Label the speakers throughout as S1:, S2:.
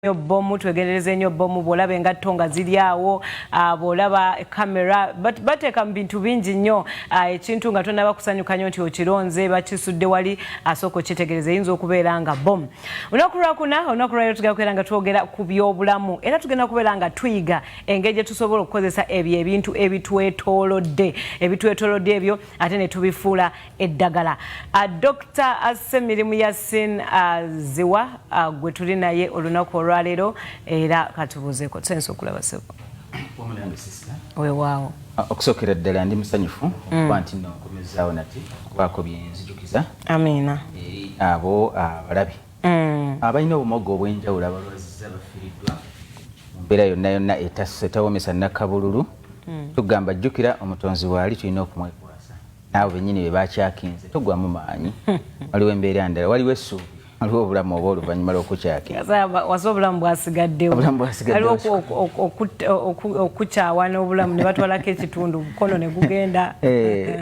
S1: nnyo bbomu twegendereze nnyo bbomu bw'olaba engatto nga ziri awo ah, bw'olaba kamera bateeka mu bintu bingi nnyo ah, ekintu nga tonaba kusanyuka nnyo nti okironze bakisudde wali asooka okyetegereza eyinza okubeera nga bbomu olunaku lwakuna olunaku lwaliro tugenda kubeera nga twogera ku byobulamu era tugenda kubeera nga tuyiga engeri gye tusobola okukozesa ebyo ebintu ebitwetoolodde ebitwetoolodde ebyo ate ne tubifuula eddagala uh, Dr Semirimu Yasin uh, Ziwa uh, gwe tuli naye olunaku olwaleero era katubuuzeeko tusensa okulaba sebo
S2: wewaawo uh,
S1: okusookera ddala
S2: ndi musanyufu mm. okuba nti nokomezaawo nati okubaako byenzijukiza amiina
S1: eri abo
S2: abalabi mm. abalina obumogo obwenjawulo abalwaziza bafiriddwa mu mbeera yonna yonna etawomesa nakabululu mm. tugamba jjukira omutonzi waali tulina okumwek Abo bennyini be bakyakinze, togwamu maanyi. Waliwo embeera ndala, waliwo essuubi. waliwo obulamu oba oluvannyuma lw'okukyakinwaza obulamu
S1: bwasigaddewo waliwo okukyawa n'obulamu ne batwalako ekitundu mukono ne gugenda eh.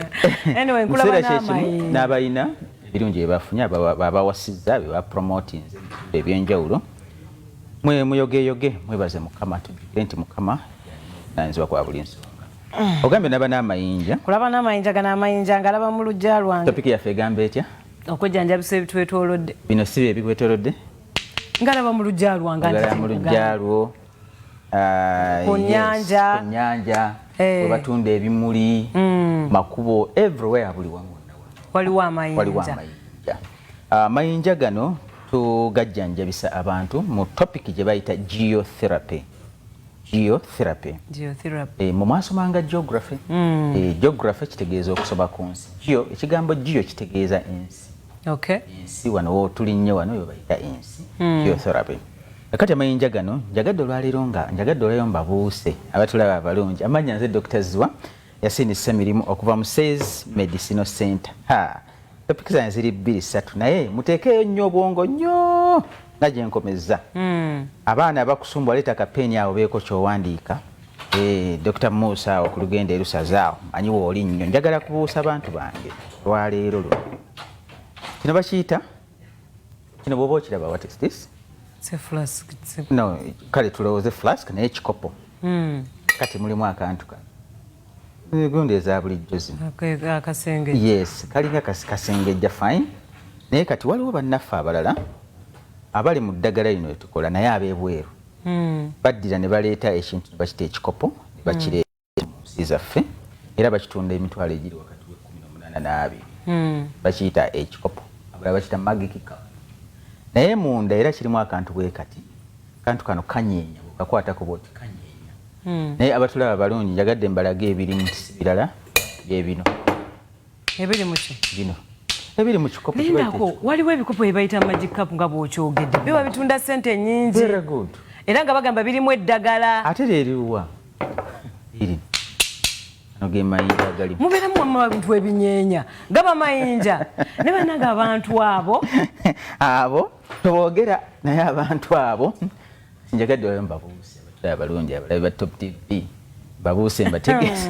S1: anyway nkulaba n'amayi n'abalina
S2: ebirungi bye bafunye babawasizza be bapromotinze ebyenjawulo mwe muyogeyoge mwebaze mukama tujjukire nti mukama ayinzibwa kwa buli nsonga Mm. Ogambye naba n'amayinja. Kulaba n'amayinja gana
S1: amayinja ngalaba mu lujja lwange. Topic yaffe egamba etya?
S2: Okujjanjabisa
S1: ebitwetoolodde. Bino si bye bikwetoolodde?
S2: Ngalaba
S1: mu lujja lwange. Ngalaba mu lujja lwo.
S2: Ah,
S1: ku nnyanja. Ku nnyanja. Eh. We batunda
S2: ebimuli. Mm. Makubo everywhere buli wamu. Waliwo amayinja.
S1: Waliwo amayinja. Ah,
S2: amayinja gano tugajjanjabisa abantu mu topic gye bayita geotherapy. geotherapy geotherapy eh mu maso manga geography mm. eh geography kitegeeza okusoma ku nsi geo ekigambo geo kitegeeza ensi okay ensi wano wo tulinye wano yo bayita ensi mm. geotherapy akati amayinja gano njagadde olwaleero nga njagadde olwayo mbabuuse abatulaba abalungi amanya nze dr zwa Yasin Ssemirimu okuva mu Says Medicinal Center. Ha, topiki zange ziri bbiri ssatu naye muteekeeyo nnyo obwongo nnyo nga gye nkomezza. Mm. Abaana abakusumbu aleeta kapeeni awo beeko ky'owandiika. Eh, Dr. Musa awo ku lugenda erusaza awo manyi wooli nnyo njagala kubuusa bantu bange lwaleero luno kino bakiyita kino bwoba okiraba what is this no kale tulowooze flask naye ekikopo hmm. kati mulimu akantu kano egonda eza bulijjo zino yes kalinga kasengejja fine naye kati waliwo bannaffe abalala abali mu ddagala lino lyetukola naye abebweru hmm. baddira ne baleeta ekintu bakita ekikopo bakireeta mu nsi zaffe era bakitunda emitwalo egiri wakati w'ekkumi n'omunaana n'abiri hmm. bakiyita ekikopo abala bakiyita magikika naye munda era kirimu akantu bwe kati kantu kano kanyeenya bwekakwatako bwoti kanyeenya hmm. naye abatulaba balungi njagadde mbalaga ebirimu nti si birala bye bino ebiri muki bino ebiri mu kikopo lindako waliwo ebikopo
S1: ebayita magic cup nga bwokyogedde biba bitunda sente nyingi era nga bagamba birimu eddagala ate leriwa
S2: iri mubeeramu wamma abantu
S1: ebinyeenya gaba mayinja ne banange abantu abo abo tebogera
S2: naye abantu abo njagadde oyo mbabuuse abatula abalungi abalabi ba top tv babuuse mbategese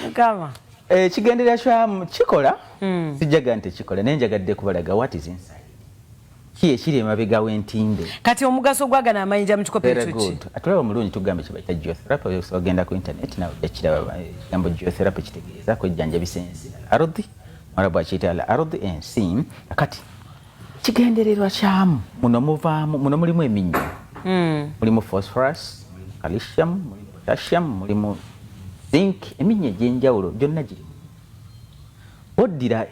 S2: mukama ekigenderera eh, kyamu kikola hmm. sijjaga nti kikola naye njagadde kubalaga what is inside ki ekiri emabega w'entimbe kati omugaso gwagana
S1: amayinja mutukopeki atulaba omulungi tugambe
S2: kyebayita geotherapy ogenda ku internet nawe ojakiraba ekigambo eh, geotherapy kitegeeza kwejjanjabisa ensi al ardhi mwarabu akiyita al ardhi ensi kati kigendererwa kyamu muno muvaamu muno mulimu eminnyo hmm. mulimu phosphorus calcium mulimu potassium mulimu zinc eminnyo egy'enjawulo gyonna giri boddira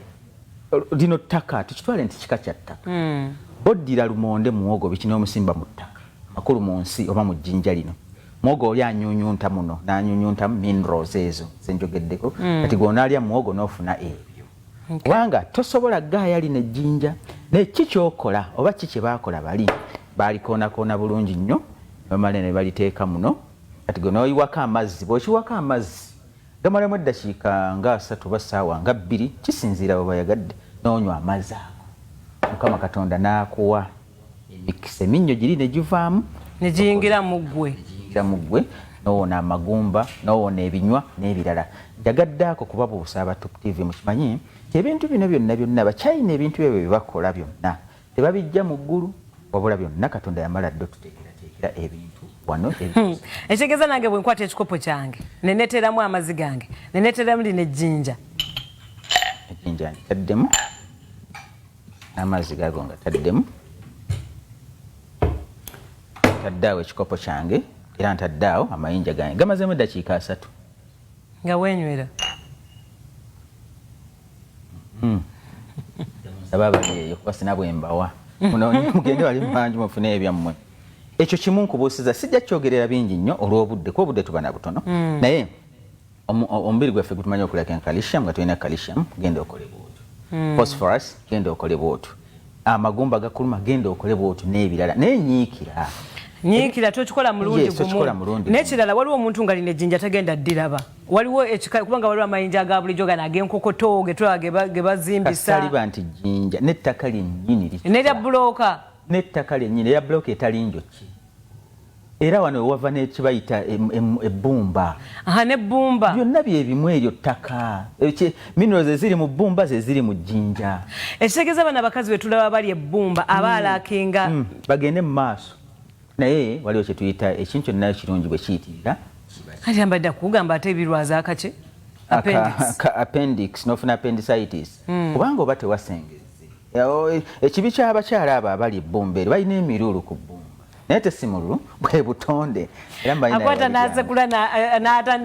S2: lino ttaka tukitwale nti kika kya ttaka hmm. boddira lumonde muwogo biki n'omusimba mu ttaka makulu mu nsi oba mu jjinja lino muwogo oli anyunyunta muno n'anyunyuntamu minerals ezo zenjogeddeko hmm. kati gwonaalya muwogo n'ofuna ebyo kubanga okay. tosobola gaaya lino ejjinja naye ki kyokola oba ki kye baakola bali baalikoonakona bulungi nnyo nomala ne baliteeka muno kati gwe noyiwako amazzi bwokiwako amazzi gamalamu eddakiika nga asatu ba saawa nga bbiri kisinziira webayagadde nonywa amazzi ago mukama katonda naakuwa emikisa eminnyo giri ne givaamu ne giyingira
S1: mu ggwe giyingira mu ggwe nowona
S2: amagumba nowona ebinywa n'ebirala njagadde ako kubabuusa aba top tv mukimanyi nti ebintu bino byonna byonna bakyayina ebintu ebyo byebakola byonna tebabijja mu ggulu wabula byonna katonda yamala dde otuteekerateekera ebintu wano hmm. ekitegeeza
S1: nange bwe nkwata ekikopo kyange neneteeramu amazi gange neneteeramu lino ejjinja ejjinja
S2: ntaddemu n'amazzi gago nga taddemu ntadde awo ekikopo kyange era ntadde awo amayinja gange gamazemu eddakiika asatu nga
S1: wenywera hmm.
S2: aba abali eyo kuba sina bwembawa mugende wali mubangi mufune ebyammwe ekyo kimu nkubuusiza sijja kyogerera bingi nnyo olw'obudde kuba obudde tuba na butono hmm. naye omubiri gwaffe gutumanyi okulya ken calcium nga tulina calcium genda okole bwotu hmm. phosphorus genda okole bwotu amagumba gakuluma genda okole bwotu n'ebirala naye nyiikira nyiikira tokikola
S1: mulundi gumu n'ekirala waliwo omuntu nga lino ejjinja tagenda ddiraba waliwo ekika kubanga waliwo amayinja ga bulijjo gano ag'enkokoto getulaba ge bazimbisa kasaliba nti jjinja
S2: n'ettaka lyennyini nerya bbulooka
S1: n'ettaka lyennyini
S2: erya bbulooka etali njoki era wano wewava nekibayita ebbumba aha nebbumba
S1: byonna byebimu
S2: eryo ttaka minerals eziri mu bbumba zeziri mu jjinja ekitegeeza bana
S1: abakazi betulaba bali ebbumba mm. aba alakinga mm. bagende mu
S2: maaso naye waliwo kyetuyita ekintu kyonna kirungi bwe kiyitirira kati ambadde
S1: kugamba ate ebirwaza akaki appendix
S2: nofuna appendicitis mm. kubanga oba tewasengeza Ekibi ky'abakyala abo abali ebbumba eri balina emiruulu ku bbumba naye tesimululu bwe butonde erakwata
S1: nasekula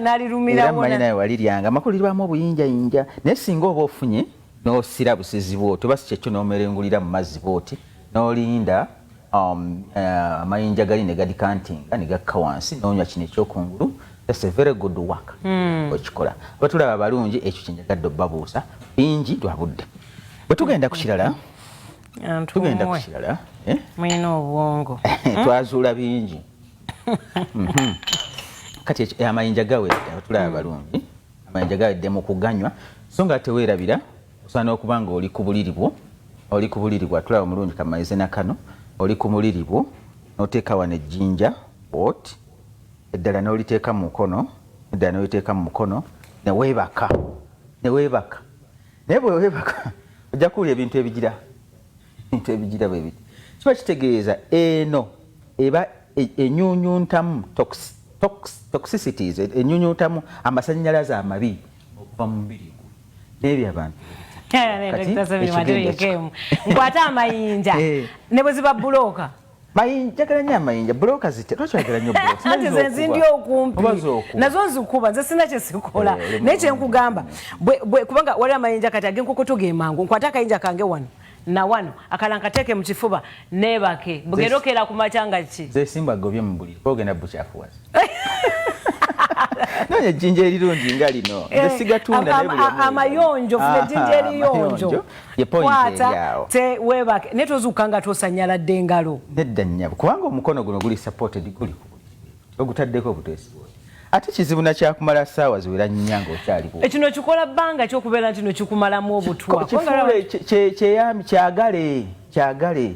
S1: nalirumiraermanyinaye waliryanga amakulu
S2: lirwamu obuyinjayinja naye singa oba ofunye n'osira busizi bwoti oba si kyekyo n'omerengulira mu mazzi bwoti n'olinda um, eh, amayinja gali ne gadikantinga ne gakka wansi n'onywa kino ekyokungulu that's a very good work hmm. okikola batulaba balungi ekyo kyenjagadde obabuusa bingi lwabudde Bwe tugenda ku kirala tugenda ku kirala
S1: eh? mulina obwongo twazuula
S2: bingi mhm. kati eh, amayinja gawedde abatulaba hmm. balungi amayinja gawedde mu kuganywa so nga teweerabira osaana okuba nga oli ku buliri bwo oli ku buliri bwo atulaba omulungi kamaize na kano oli ku muliri bwo noteeka wano ejjinja ot eddala noliteeka mu mukono eddala noliteeka mu mukono neweebaka neweebaka naye bwewebaka ojja kuwulira ebintu ebigira ebintu ebigira bwe biti kiba kitegeeza eno eba e, enyunyuntamu toxicities e, enyunyuntamu amasannyalaze amabi okuva mu mubiri gwo n'ebyo abantu
S1: nkwata amayinja eh. ne bwe ziba bulooka Mayinja kala
S2: nya mayinja bloka zite lwaki wagala nyo bloka ati ze zindi
S1: okumpi nazo nzikuba nze sina kye sikola eh, naye kye nkugamba bwe bwe kubanga wali amayinja kati agen kuko tuge mangu nkwata kayinja kange wano na wano akala nkateke mu kifuba nebake bugerokera ku machanga ki ze simba gobye mu buli
S2: ogenda buchafu wazi nonya jinja erirungi nga lino nze eh, sigatunda naye buli amayonjo
S1: fune jinja eriyonjo kwata
S2: tewebake
S1: naye tozuuka nga tosanyaladde engalo nedda nyabo kubanga
S2: omukono guno guli supported guli ogutaddeko obuteesi ate kizibu nakyakumala saawa ziwera nnya ngaokyaliwo ekino kikola bbanga
S1: kyokubeera nti no kikumalamu obutwa kyeyami
S2: kyagale kyagale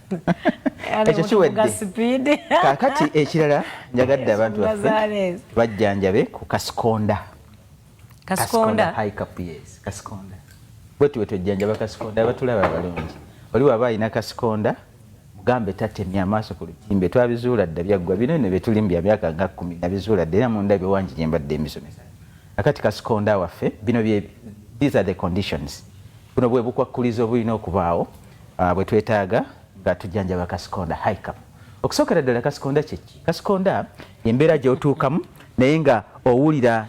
S2: ekyo kiwedde kakati ekirala njagadde abantu baffe bajjanjabe ku kasikonda kasikonda high cup yes kasikonda bwetuwe twejjanjaba kasikonda abatulaba abalungi oli waba alina kasikonda mugambe tatemya amaaso ku lutimbe twabizuula dda byaggwa bino ne betulimu bya myaka nga kumi nabizuula dda era munda biwangi gye mbadde emisomesa akati kasikonda waffe bino bye these are the conditions buno bwe bukwakkulizo bulina okubaawo bwe twetaaga nga tujjanjaba kasikonda haikap okusookera ddala kasikonda kyeki kasikonda embeera gyotuukamu naye nga owulira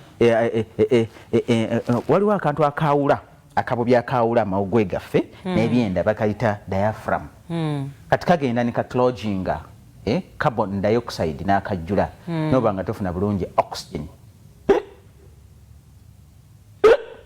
S2: waliwo akantu akaawula akabubi akaawula amawugwe gaffe hmm. n'ebyenda bakayita diaphragm hmm. kati kagenda ne kacloginga eh, carbon dioxide n'akajjula hmm. noba nga tofuna bulungi oxygen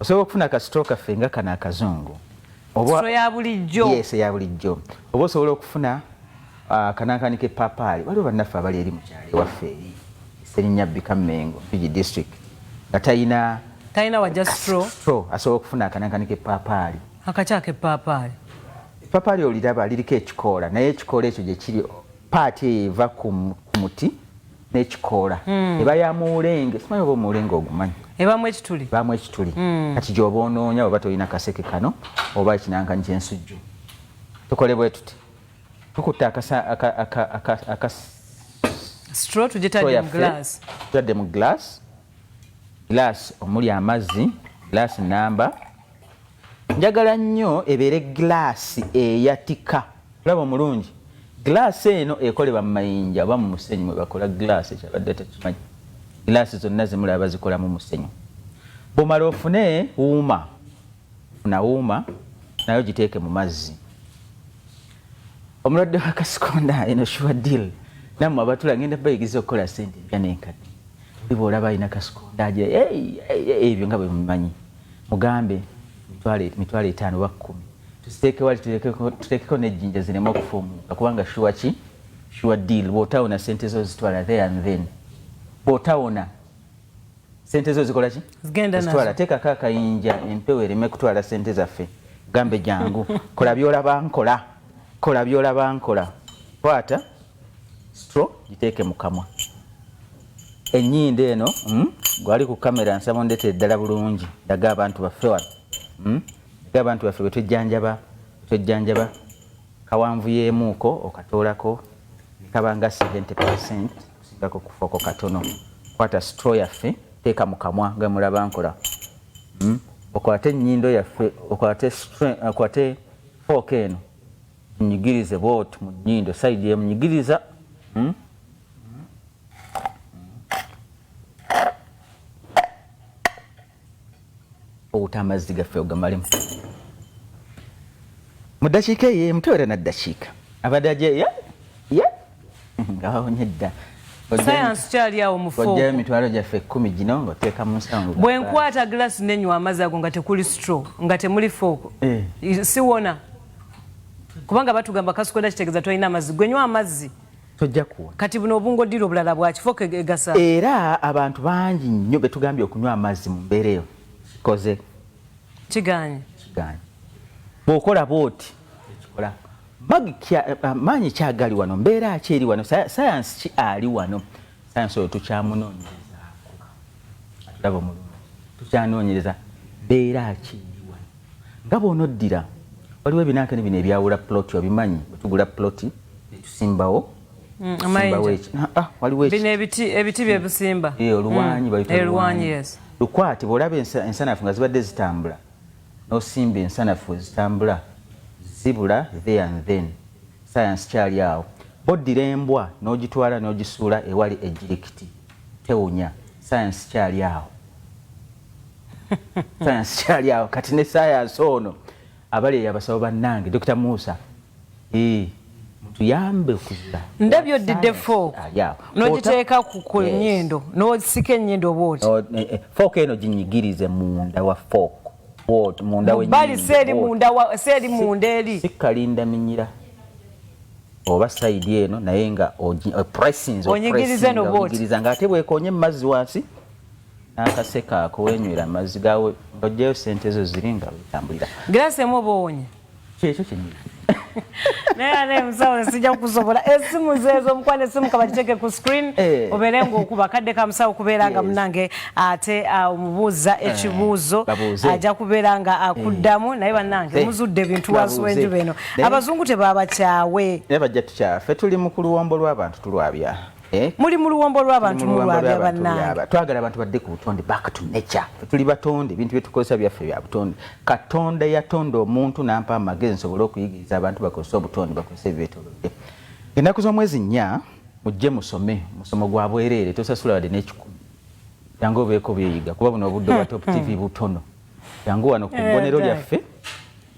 S2: osobola okufuna kasitoo kaffe nga kano akazungu
S1: eyabulijjo
S2: oba osobola okufuna ah, kanankani kepapaali waliwo bannaffe abali eri mukyalo ewaffe eri serinnya bika mengo fiji district nga talina talina waja
S1: stro asobola okufuna
S2: akanankani kepapaali akakya kepapaali
S1: epapaali
S2: oliraba liriko ekikoola naye ekikoola ekyo gyekiri paati eyo eva ku muti nekikoola mm. eba ya muwulenge simanyi oba omuwulenge ogumanyi ebamu ekituli
S1: bamu ekituli mm.
S2: kati gyoba onoonya oba tolina kaseke kano oba ekinankanyi kyensujju tukole bwe tuti tukutte
S1: akatadde mu glass
S2: Glass omuli amazzi, glass namba njagala nnyo ebeere glass eyatika olaba omulungi glass eno ekolebwa mu mayinja oba mu musenyu mwe bakola glass ekyabadde takimanyi glass zonna zimulaba bazikolamu musenyu bwomala ofune wuuma funa wuuma nayo giteeke mu mazzi omulwadde wakasikonda eno shuwa deal namwe abatula ngenda bayigiza okukola sente empya nenkadde Biba olaba alina kasikonda agira ebyo nga bwe mumanyi mugambe mitwalo etaano oba kkumi tusiteeke wali tuteekeko n'ejjinja zireme okufuumuuka kubanga shuwa ki shuwa deal bw'otawona sente zo zitwala there and then bw'otawona sente zo zikola ki zitwala teekako
S1: akayinja
S2: empewo ereme kutwala sente zaffe gambe jangu kola by'olaba nkola kola by'olaba nkola kwata stro giteeke mu kamwa enyindo eno mm, gwali ku kamera nsaba ondetere ddala bulungi daga abantu baffe wano mm, daga abantu baffe bwetwejjanjaba bwetwejjanjaba kawanvu yeemuuko okatoolako nekabanga 70 percent kusigako kufooko katono kwata sitro yaffe teeka mu kamwa nga mulaba nkola mm, okwate enyindo yaffe okwate okwate fooko eno munyigirize bwoti mu nyindo saidi emunyigiriza mm, okuta amazzi gaffe ogamalemu mu ddakiika eyo emu tewera na ddakiika abadde ajeya ye ngawonye dda sayansi
S1: kyali awo mufoojjayo emitwalo gyaffe ekkumi
S2: gino ngaoteeka mu nsango bwe nkwata gilasi
S1: nenywa amazzi ago nga tekuli stro nga temuli fooko eh. siwona kubanga batugamba kasukwenda kitegeeza tolina amazzi gwenywa amazzi tojja kuwona.
S2: Kati buno obungo dira
S1: obulala bwaki foka e-, egasa. Era abantu
S2: bangi nnyo betugambye okunywa amazzi mu mbeera eyo kikoze kiganye
S1: kiganye
S2: bwokola bwoti ekikola eh, maanyi ki agali wano mbeera ki eri wano sayansi ki ali wano sayansi oyo tukyamunoonyerezaako atulaba omulungi tukyanoonyereza mbeera ki Nga bw'onoddira, waliwo ebinanke bino ebyawula ploti, obimanyi, bwe tugula ploti ne tusimbawo mm, ah, ah, waliwo ebiti bye
S1: busimba eh, oluwanyi mm, bayita
S2: oluwanyi eh,
S1: lukwate bw'olaba
S2: ensanafu nga zibadde zitambula n'osimba ensanafu ezitambula zibula there and then sayansi kyali awo boddira embwa n'ogitwala n'ogisuula ewali ejjirikiti tewunya sayansi kyali awo sayansi kyali awo kati ne sayansi ono abali eyabasaba bannange dokita musa tuyambe okuzula ndabyo oddidde
S1: fook nogiteeka ku nyindo nosika enyindo bwoti oh, eh, eh, fook eno
S2: ginyigirize munda wa fook bali
S1: seeri munda eri sikalinda minyira
S2: oba saidi eno naye nga eh, pressings
S1: onyigirize no bwoti nga
S2: ate bwekonye mu mazzi wansi n'akaseko ako wenywera amazzi gawe ojjayo sente zo ziri nga wetambulira girasi emu oba owonye
S1: kyekyo kyenyini
S2: naye
S1: ane emusawo sijja kukusobola esimu zeezo omukwano esimu kabagiteke ku screen eh. obeere ngaokuba kadde ka musawo kubeera nga munange ate ah, omubuuza eh, ekibuuzo ajja kubeera nga akuddamu eh. naye bannange muzudde ebintu wansi wenjuba eno abazungu tebabakyawe naye bajja tukyafe
S2: tuli mu kuluwombo lw'abantu tulwabya Eh? muli mu luwombo
S1: lw'abantu mulwabya bannange twagala abantu badde ku
S2: butonde back to nature tuli batonde ebintu byetukozesa byaffe bya butonde katonda yatonda omuntu nampa amagezi nsobole okuyigiriza abantu bakozesa obutonde bakozesa ebyetolodde ennaku z'omwezi nnya mujje musome musomo gwa bwereere tosasula wadde n'ekikumi yange obeeko byeyiga kuba buno obudde obwa top tv butono yangu wano ku bbonero eh, lyaffe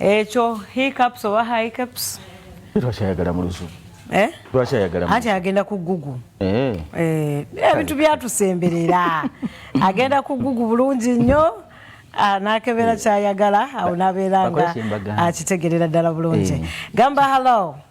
S1: ekyo hiccups oba hiccups twakyayagala mu
S2: luzu eh? twakyayagala
S1: ati agenda ku gugu eh. Eh, ebintu byatusemberera agenda ku gugu bulungi nnyo ah, nakebera kyayagala awo nabeera nga akitegerera ddala bulungi gamba hallo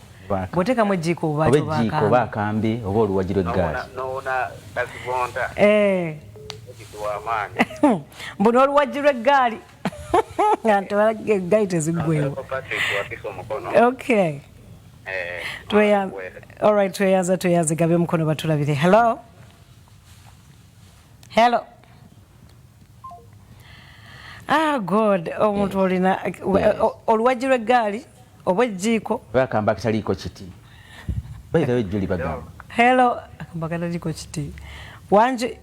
S1: bwotekamu ejjiiko oba ejjiiko oba akambe
S2: oba oluwagiro eggaasi
S3: eh. mbu n'oluwaggi
S1: lw'eggaali eggaali teziggwewo okay eh, tweyanza tweyanza gabe omukono batulabire hello hello ah god omuntu olina oluwagi lw'eggaali oba ejjiiko bagamba kitaliiko
S2: kiti baitawo ejjuli bagamba hello
S1: mbagalaliko kiti wangi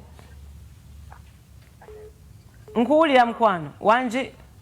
S1: nkuwulira mukwano wangi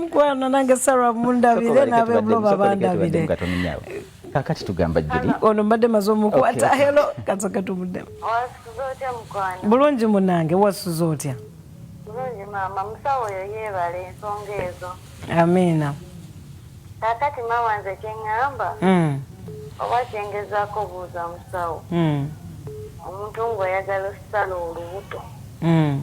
S3: mukwano
S1: nange sarah mundabire nabebuloba bandabire kakati
S2: tugamba juli ono mbadde maze omukwata
S1: helo kasoke tumuddemu
S4: bulungi munange
S1: wasuza otya bulungi
S4: maama musawo oyo yeebala ensonga ezo amiina kakati maama nze kyeŋŋamba hmm. oba kyengezaako obuuza musawo hmm. omuntu ng'oyagala okusala olubuto hmm.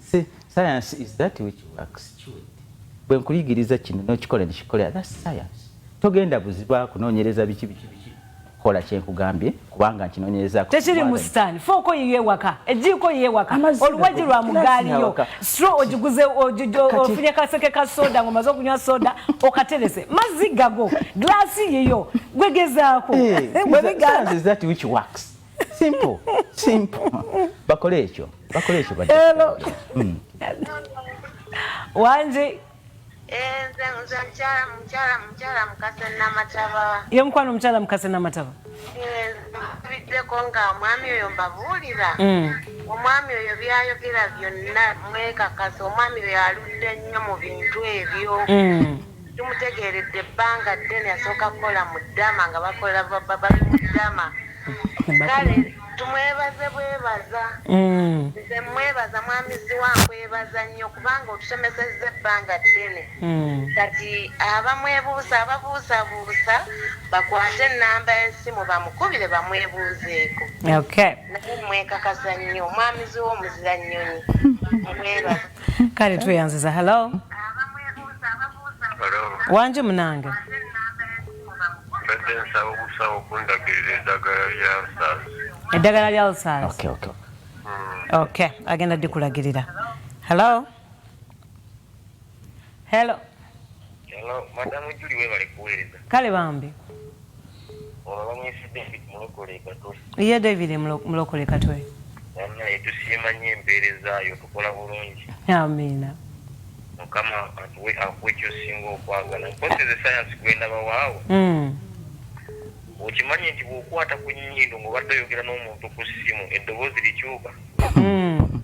S2: science is that which works chewed bwe nkuyigiriza kino n'okikola nekikola that science togenda buziba kunoonyereza biki biki biki kola kyenkugambye kubanga nkinoonyereza tekiri mu sitaani
S1: fooko yiyo ewaka ejjiiko yiyo ewaka oluwagi lwa mugaaliyo stro ogiguze ofunye kaseke ka soda ng'omaze okunywa soda okaterese mazzi gago glaasi yiyo gwegezaako
S2: eh, simple simple bakole ekyo bakole ekyo bade hello
S1: mm.
S2: wanje
S4: enze eh, nze mchala mchala mchala mukase na mataba ye mkwano mchala
S1: mukase na mataba eh,
S4: biddeko nga omwami oyo mbabulira mm. omwami oyo byayogera byonna mwekakasa omwami oyo aludde nnyo mu bintu ebyo mm. Sikimutegeeredde ebbanga ddene yasooka kukola mu Dama nga bakola bali mu Dama kale tumwebaze bwebaza mm. nze mwebaza mwami ziwa nkwebaza nnyo kubanga otusomesezza ebbanga ddene mm. kati abamwebuusa ababuusabuusa bakwate enamba y'esimu bamukubire bamwebuuzeeko naye
S1: mwekakasa
S4: nnyo mwami ziwa omuzira nnyonyi mwebaza kale
S1: tweyanziza hello wangi munange
S3: eddagala lya
S1: lsas ok agenda dikulagirira hello Hello. Hello,
S3: madam Julie webale kuweereza. Kale bambi. Olabanyisi David Mulokole Katwe. Ye David
S1: Mulokole Katwe. Namna etusiima
S3: nnyo empeereza yo tukola bulungi. Amiina.
S1: Mukama
S3: atuwe akuwe ky'osinga okwagala. Mpozi ze sayansi gwenda bawaawo. Mm. Okimanyi nti bw'okwata ku nnyindo ng'obadde oyogera n'omuntu ku ssimu eddoboozi likyuka. Mm.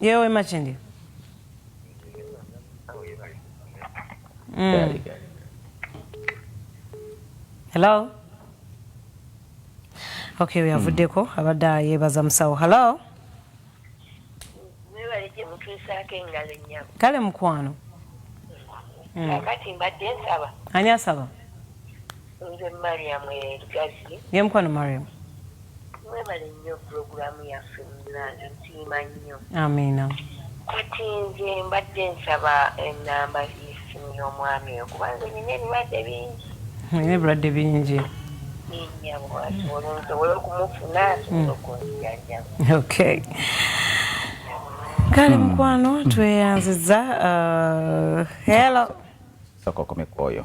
S1: yewe makindi mm. hello okay weyavuddeko mm. abadde yebaza musawo hello
S4: kale mukwano mm. kakati mbadde nsaba ani asaba nze mariam elugazi ye mukwano mariam
S1: mwebale
S4: nnyo pulogulaamu yaffe munange nsiima nnyo amiina
S1: kati
S4: nze mbadde nsaba enamba yesimu y'omwami oyo kuba nze nina ebirwadde
S1: bingi nina ebirwadde
S4: bingi okay
S1: kale hmm. mukwano tweyanziza uh, hello soka
S2: okomekwa oyo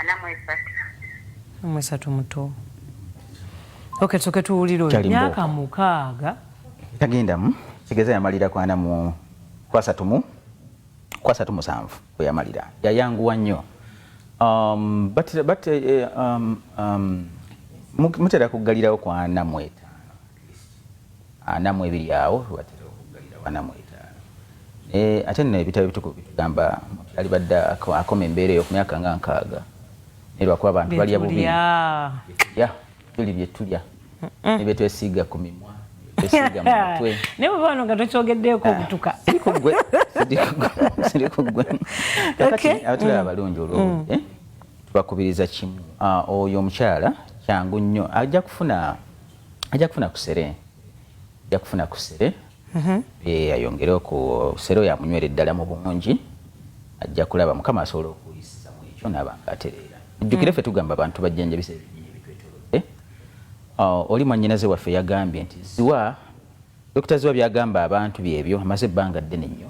S1: ana
S4: mwesatu mwesatu
S1: muto okay tusoke tuwulire oyo myaka mukaaga tagendamu
S2: kigeza yamalira kwana mu kwasatu mu kwasatu musanvu weyamalira yayanguwa nnyo um, but, but, uh, um, um, mutera kuggalirawo kwana mweta ana mu ebiri awo watera okuggalira wana mu etaano naye ate nno ebitabo ebitukuvu bitugamba omuntu alibadde akoma embeera eyo ku myaka nga nkaaga naye lwakuba abantu balya bubi ya tuli bye tulya ne bye twesiiga ku mimwa twesiiga mu mutwe naye bwe bano nga
S1: tokyogeddeeko obutuka ah, siri ku ggwe
S2: siri ku ggwe kakati abatulaba mm. abalungi olwobudde mm. eh? tubakubiriza kimu ah, oyo omukyala kyangu nnyo ajja kufuna ajja kufuna kusere ajja kufuna kusere mhm. eh, ayongere okusere oyo amunywere ddala mu bungi ajja kulaba mukama asobola okuyisa mu ekyo naaba nga atereera ojjukire mm. ffe tugamba abantu bajjanjabisa ebinyini ebitwetolodde ah, oli mwanyinaze waffe yagambye nti ziwa Dokita Zziwa by'agamba abantu byebyo, amaze ebbanga ddene nnyo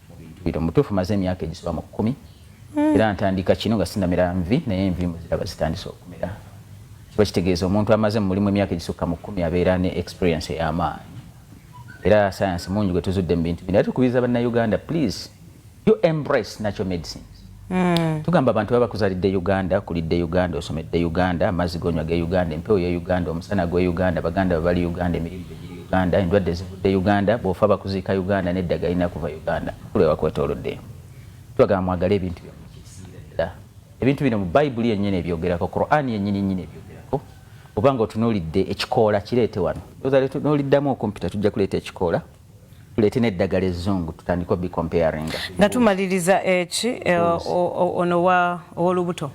S2: mu bintu bino. Mu butuufu maze emyaka egisoba mu kkumi era ntandika kino nga sinnamera nvi naye enviimwe ziraba zitandise okumera. Kiba kitegeeza omuntu amaze mu mulimu emyaka egisukka mu kkumi abeera ne experience ey'amaanyi era sayansi mungi gwe tuzudde mu bintu bino era tukubiriza Bannayuganda please you embrace natural medicines Mm. tugamba abantu baba kuzalidde uganda kulidde uganda osomedde uganda amazzi gonywa ge uganda empewo ye uganda omusana gwe uganda baganda babali uganda emirimu giri uganda endwadde zivudde uganda bwofa bakuziika uganda nedda galina kuva uganda kulwewakwetoloddeyo tubagamba mwagale ebintu byomukiziira ebintu bino mu bayibuli yennyini ebyogerako qurani yennyini nyini ebyogerako oba nga otunulidde ekikoola kireete wano oza tunuliddamu okumpita tujja kuleeta ekikoola tulete neddagala ezzungu tutandika obi comparinga nga tumaliriza
S1: eki eh, ono owolubuto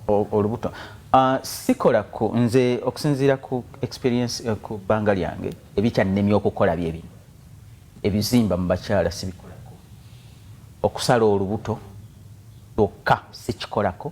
S2: olubuto ah, sikola ku nze okusinziira ku experience eh, ku bbanga lyange ebikyannemi okukola byebino ebizimba mu bakyala sibikolako okusala olubuto lwokka sikikolako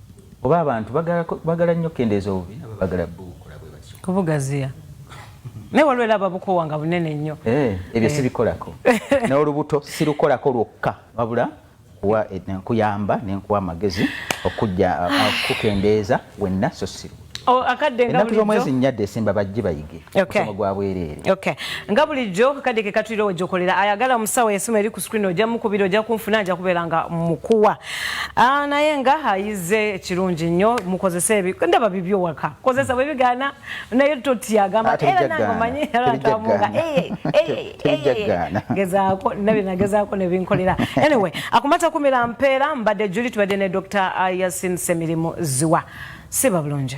S2: Oba abantu bagala bagala nnyo kendeeza obubi nabo bagala bukola bwe batyo. Kubugaziya.
S1: Naye waliwo era ababukowa nga bunene nnyo. Eh, ebyo eh. sibikolako.
S2: N'olubuto sirukolako lwokka wabula kuwa eh, kuyamba ne nkuwa amagezi okujja ah, ah, kukendeeza wenna so siru. Oh, ennaku
S1: z'omwezi nnya desemba bajje
S2: bayige omusomo gwa bwereere nga bulijjo
S1: akadde ke katulira wegyokolera ayagala omusawo yasoma eri ku screen ojja mukubira ojja kunfuna nja kubeera nga mukuwa ah, naye nga ayize ekirungi nnyo mukozese ebi ndaba bibyo waka kozesa bwe bigaana naye totyagamba ah, era nange omanyi eratamuga gezaako nabi nagezaako nebinkolera anyway akumata kumira mpeera mbadde juli tubadde ne dr yasin semirimu ziwa siba bulungi